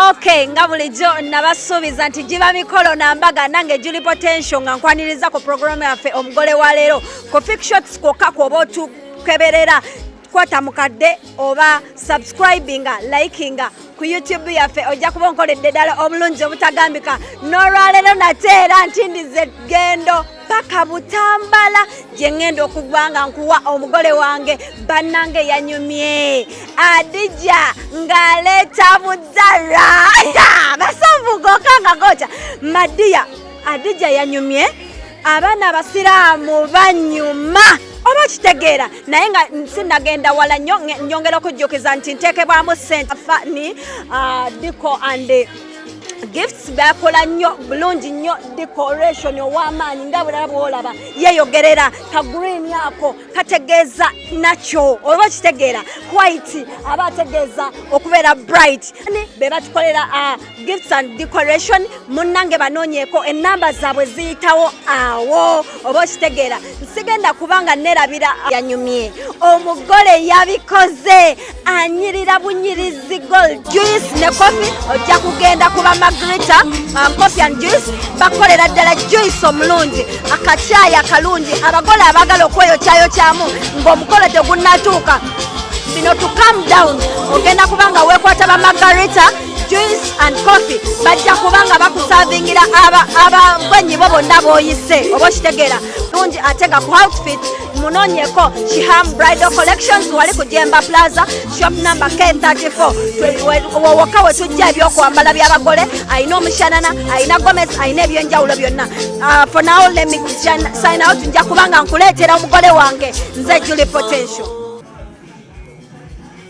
Okay, nga bulijjo nabasuubiza nti giba mikolo na mbaga nange Julie Potential nga nkwaniriza ku programu yaffe omugole wa leero ku Fik Shots kwokka kwoba otukeberera kwata mukadde oba subscribinga likinga ku YouTube yaffe ojja kuba onkoledde ddala obulungi obutagambika n'olwaleero nate era nti ndize gendo paka butambala gye ŋŋenda okugwa nga nkuwa omugole wange bannange yanyumye adija ng'aleeta mudala basavugoka nga goca madiya adija yanyumye abaana abasiraamu banyuma oba kitegeera naye nga sinagenda wala nyo nyongera okujjukiza nti ntekebwamu sente fani uh, diko and gifts bakola nnyo bulungi nnyo decoration ow'amaanyi nga bulala bwolaba yeyogerera ka green ako kategeeza nakyo oba okitegeera white aba ategeeza okubeera bright ni be batukolera uh, gifts and decoration munnange banoonyeeko ennamba zaabwe ziyitawo awo oba okitegeera nsigenda kubanga nerabira yanyumye omugole yabikoze anyirira bunyirizi gol juice ne kofi ojja kugenda kuba magrita uh, coffee and juice bakolera ddala juice omulungi akakyayi akalungi abagole abagala okweyokyayokyamu ng'omukolo tegunnatuuka bino to calm down ogenda kuba nga weekwata ba magarita juice and coffee bajja kuba nga bakusavingira abagwenyi bo bonna booyise oba okitegeera lungi ate nga ku outfit munonyeko shiham bridal collections wali ku jemba plaza shop number k34 wowoka wetujja ebyokwambala byabagole alina omushanana alina gomes alina ebyenjawulo byonna uh, for now let me sign out nja kubanga nkuleetera omugole wange nze juli potential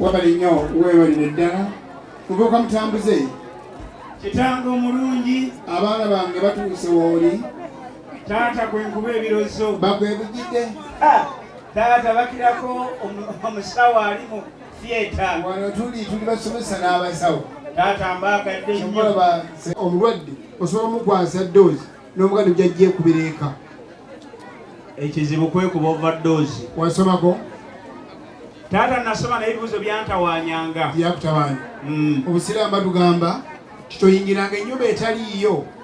wabali nnyo weebalire ddala muvubuka mutambuze kitange omulungi abaana bange batuuse wooli taata kwenkuba ebirozo bakwebujidde ah, taata bakirako omusawo alimu theatre wano tuli tuli basomesa n'abasawo taata mbaagadde nnyo omulwadde osobola omukwasa doozi n'omuganda gyajja ekubira eka ekizibu kwekuba overdose wasomako taata nasoma naye ebibuzo byantawanyanga yakutabanya hmm. obusiraamu batugamba titoyingiranga ennyumba etaliiyo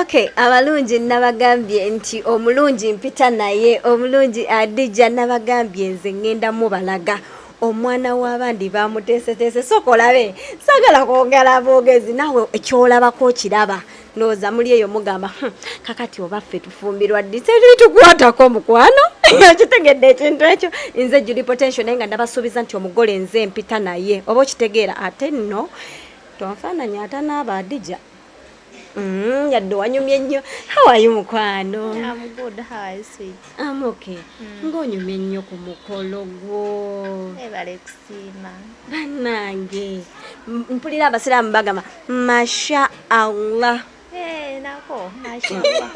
Okay, abalungi nabagambye nti omulungi mpita naye omulungi adija nabagambye nze ngenda mubalaga omwana w'abandi bamuteeseteese sooka olabe sagala kwogera bwogezi naawe ekyolabako okiraba ndowooza muli eyo mugamba hmm, kakati oba ffe tufumbirwa ddi tebitukwatako mukwano okitegedde ekintu ekyo nze juli potential naye nga ndabasuubiza nti omugole nze mpita naye oba okitegeera ate nno tonfaananya ata naaba adija mm, yadde wanyumye nnyo hawayi mukwano amoke hmm. ng'onyumye nnyo ku mukolo gwo ebale kusiima bannange mpulira abasiraamu bagamba masha allah eh, nako masha allah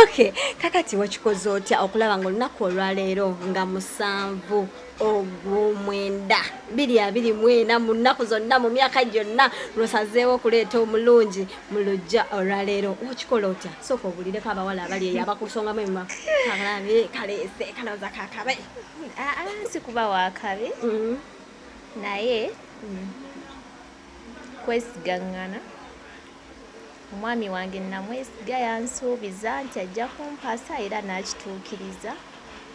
okay kakati wakikoze otya okulaba nga olunaku olwaleero nga musanvu ogwomwenda biri abiri mwena mu nnaku zonna mu myaka gyonna lwosazeewo okuleeta omulungi mu lujja olwaleero okikola otya sooka obulireko abawala abali eyo abakusongamu ema kalabe kaleese kalowooza kakabe ah, ah, si kuba wakabi mm-hmm. naye mm-hmm. kwesigaŋŋana Omwami wange nnamwesiga, yansuubiza nti ajja kumpasa era n'akituukiriza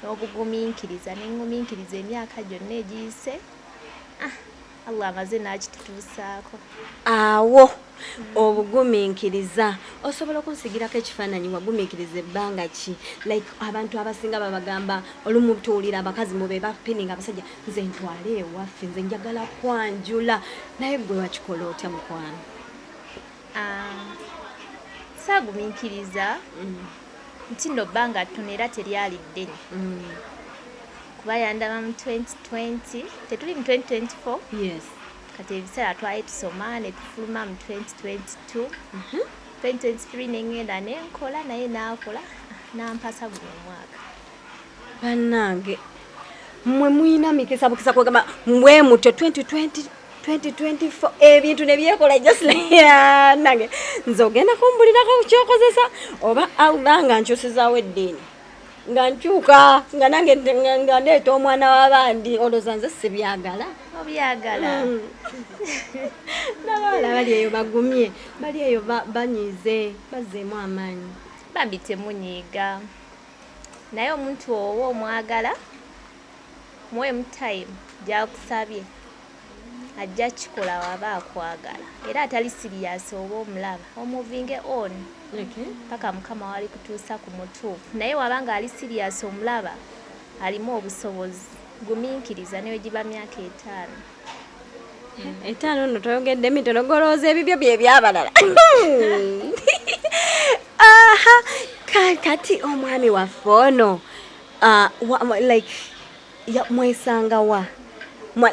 n'obugumiikiriza ne ngumiikiriza emyaka gyonna egiyise ah, Allah amaze n'akitutuusaako awo obugumiikiriza osobola okunsigirako ekifaananyi wagumiikiriza ebbanga ki like abantu abasinga babagamba olumu tuwulira abakazi mu be bapininga abasajja nze ntwale ewaffe nze njagala kwanjula naye gwe wakikola otya mukwano Um, saagumiikiriza mm. nti no bbanga ttono era teryali ddene mm. kuba yandaba mu 2020 tetuli mu 2024 kati ebiseera twali tusoma ne tufuluma mu 2022 2023 nengenda nenkola naye nakola nampasa guno omwaka Banange mwe muyina mikisa bukisa kwegamba mwe mutyo 2020 2024 ebintu eh, nebyekola just nange nze ogenda kumbulirako kyokozesa oba allah nga nkyusizawo eddiini nga nkyuka nga nange nga ndeeta omwana wabandi oloza nze sibyagala obyagala mm. nabawala bali eyo bagumye bali eyo banyize bazeemu amaanyi bambi temunyiiga naye omuntu owo omwagala muwemu time gyakusabye ajja kikola waba akwagala era atali siriyasi oba omulaba omuvinge on paka mukama wali kutuusa ku mutuufu naye waba nga ali siriyasi omulaba alimu obusobozi guminkiriza newegiba myaka etaano etaano nno toyogedde mitono golowooza ebibyo bye byabalala aha kati omwami waffe ono ah, like mwesanga wa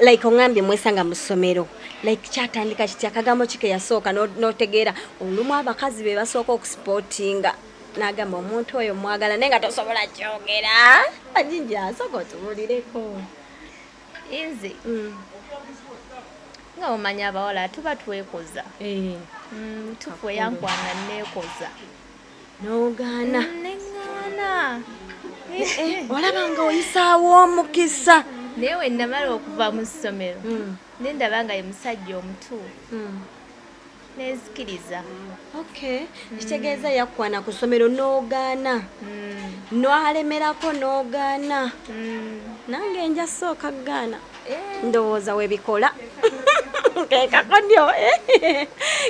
like ongambye mwesanga mu ssomero like kyatandika kiti akagambo kike yasooka notegeera olumu abakazi be basooka okusipotinga nagamba omuntu oyo mwagala naye nga tosobola kyogera ajinja asooka otubulireko inze mm. nga omanya abawala tuba twekoza eh. mm, tufu eyankwana nekoza nogaana mm, negaana eh, eh, olaba nga oyisaawo omukisa naye wenamala okuva mu ssomero nendaba nga ye musajja omutuufu nezikiriza okay mm. kitegeeza yakwana ku ssomero n'ogaana mm. nwalemerako n'ogaana mm. nange nja sooka gaana eh. ndowooza webikola kekakonyo eh.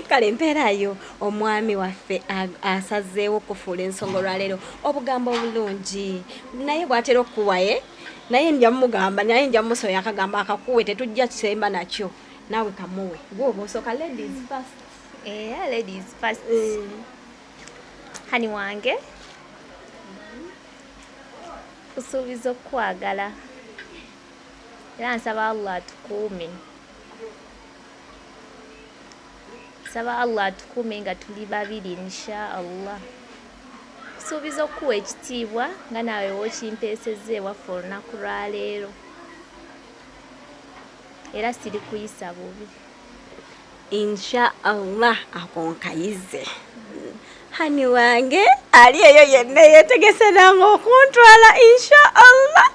kale mpeerayo omwami waffe asazeewo okufuula ensonga olwaleero obugambo obulungi naye bwatera okukuwaye eh? naye nja mugamba naye nja musoya akagamba akakuwe tetujja kisemba nakyo naawe kamuwe gwoba osooka ladies first eh, ladies first eh. hani wange kusuubiza okukwagala era nsaba allah atukuume nsaba allah atukuume nga tuli babiri insha allah kusuubiza okukuwa ekitiibwa nga naawe wokimpeesezza ewaffe olunaku lwaleero era sirikuyisa bubi insha allah akonkayize hani wange ali eyo yenna yetegese nange okuntwala insha allah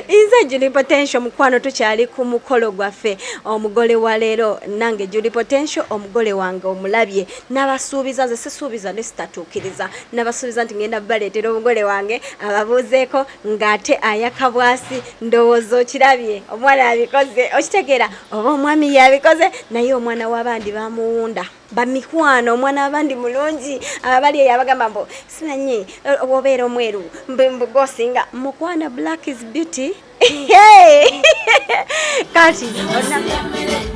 inze juli potential mukwano tukyali ku mukolo gwaffe omugole wa leero nange juli potential omugole wange omulabye nabasuubiza nze sisuubiza ne sitatuukiriza nabasuubiza nti ngenda baleetera omugole wange ababuuzeeko ng'ate ayaka bwasi ndowooza okirabye omwana yabikoze okitegeera oba omwami yabikoze naye omwana w'abandi bamuwunda bamikwano omwana w'abandi mulungi abali eyo abagamba mbu simanyi eh, obeera omweru mbugosinga mukwana black is beauty kati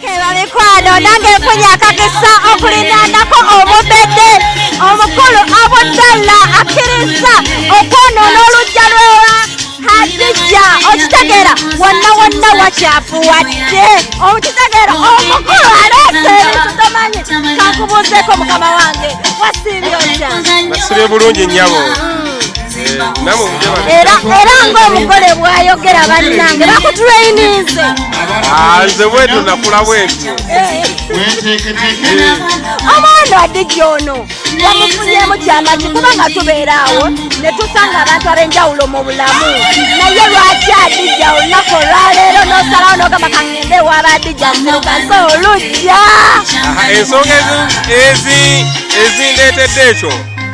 keba mikwano nange nfunye akakisa okulinanako obubedde omukulu abudalla akkiriza okwonoona olujja lwewa hadijja okitegeera wonna wonna wakyafu wadde okitegeera omukulu aleese ebintu tomanyi kakubuuzeeko mukama wange wasiibye otya nasibye bulungi nyabo era era ng'omugole bwayogera bannange bakutuleyininze ah, nze bwetyo nakula bwetyo omwana adigi ono bamufunyemu kyamaki kubanga tubeera awo ne tusanga abantu ab'enjawulo mu bulamu naye lwaki adija olunaku olwaleero n'osalawo n'ogamba kangende ewaaba adija nzirukaze olujja ensonga ezindeetedde ekyo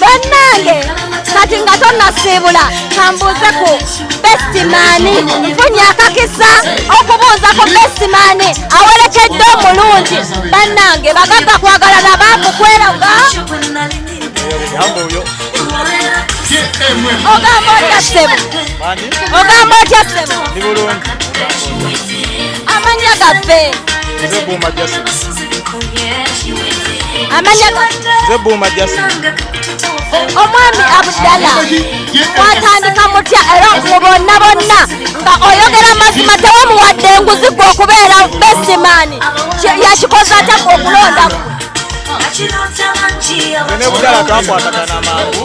bannange kati nga tonnasiibula kambuuze ku besitimaani nfunye akakisa okubuuza ku besitimaani awerekedde omulungi bannange bagagga kwagala nabaavu kweraga ogamba otya ssebo ogamba otya ssebo amannya gaffe amanya nze buuma jasi omwami abudala watandika mutya era mu bonna bonna nga oyogera mazima tewamuwadde enguzi gwe okubeera besimani yakikoze atya gwe okulondaku nebudala twakwatagana mangu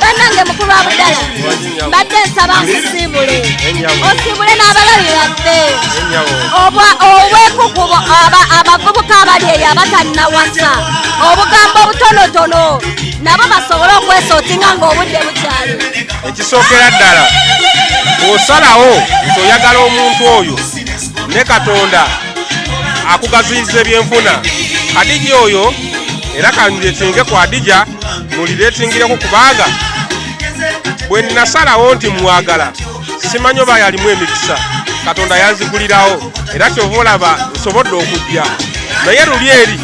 banange mukulu wa budala mbadde nsaba nkusiibule osiibule n'abalabi baffe obwekukubo abavubuka abali eyo abatannawasa obugambo obutonotono nabo basobole okwesootinga ng'obudde bukyali ekisookera ddala osalawo nti oyagala omuntu oyo ne katonda akugaziyiza ebyenfuna kadija oyo era kandiretinge ku adija muliretingireko kubanga bwe nasalawo nti mwagala simanyi oba yalimu emikisa katonda yanzigulirawo era kyova olaba nsobodde okujja naye luli eri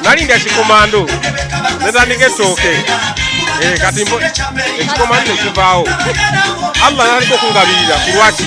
nalindya kikomando netandika etooke eh, kati ekikomando nekivaawo allah nalika okungabirira kulwaki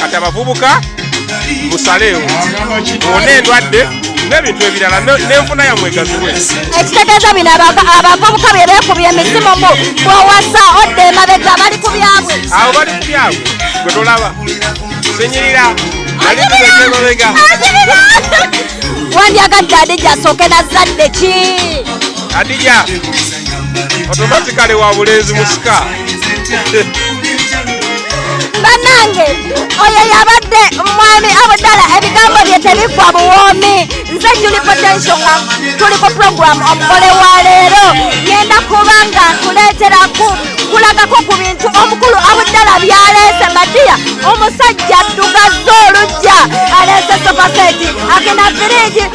kati abavubuka musaleewo ona endwadde n'ebintu ebirala n'enfuna yamwe egaziwe ekitegeeza bino abavubuka bye beekubya emisimu mu bwowasa odda emabega bali ku byabwe abo bali ku byabwe gwe tolaba sinyirira aliemabega wandyagadde adija asooke nazadde ki adija automatically wa bulenzi musika banange oyo yabadde mwami abudala ebigambo bye tebigwa buwoomi nze juli potensio nga tuli ku puroguramu omugole wa leero genda kuba nga nkuleeteraku kulagako ku bintu omukulu abudala byaleese madiya omusajja ddugaza olujja aleese sofaseti agenda firiji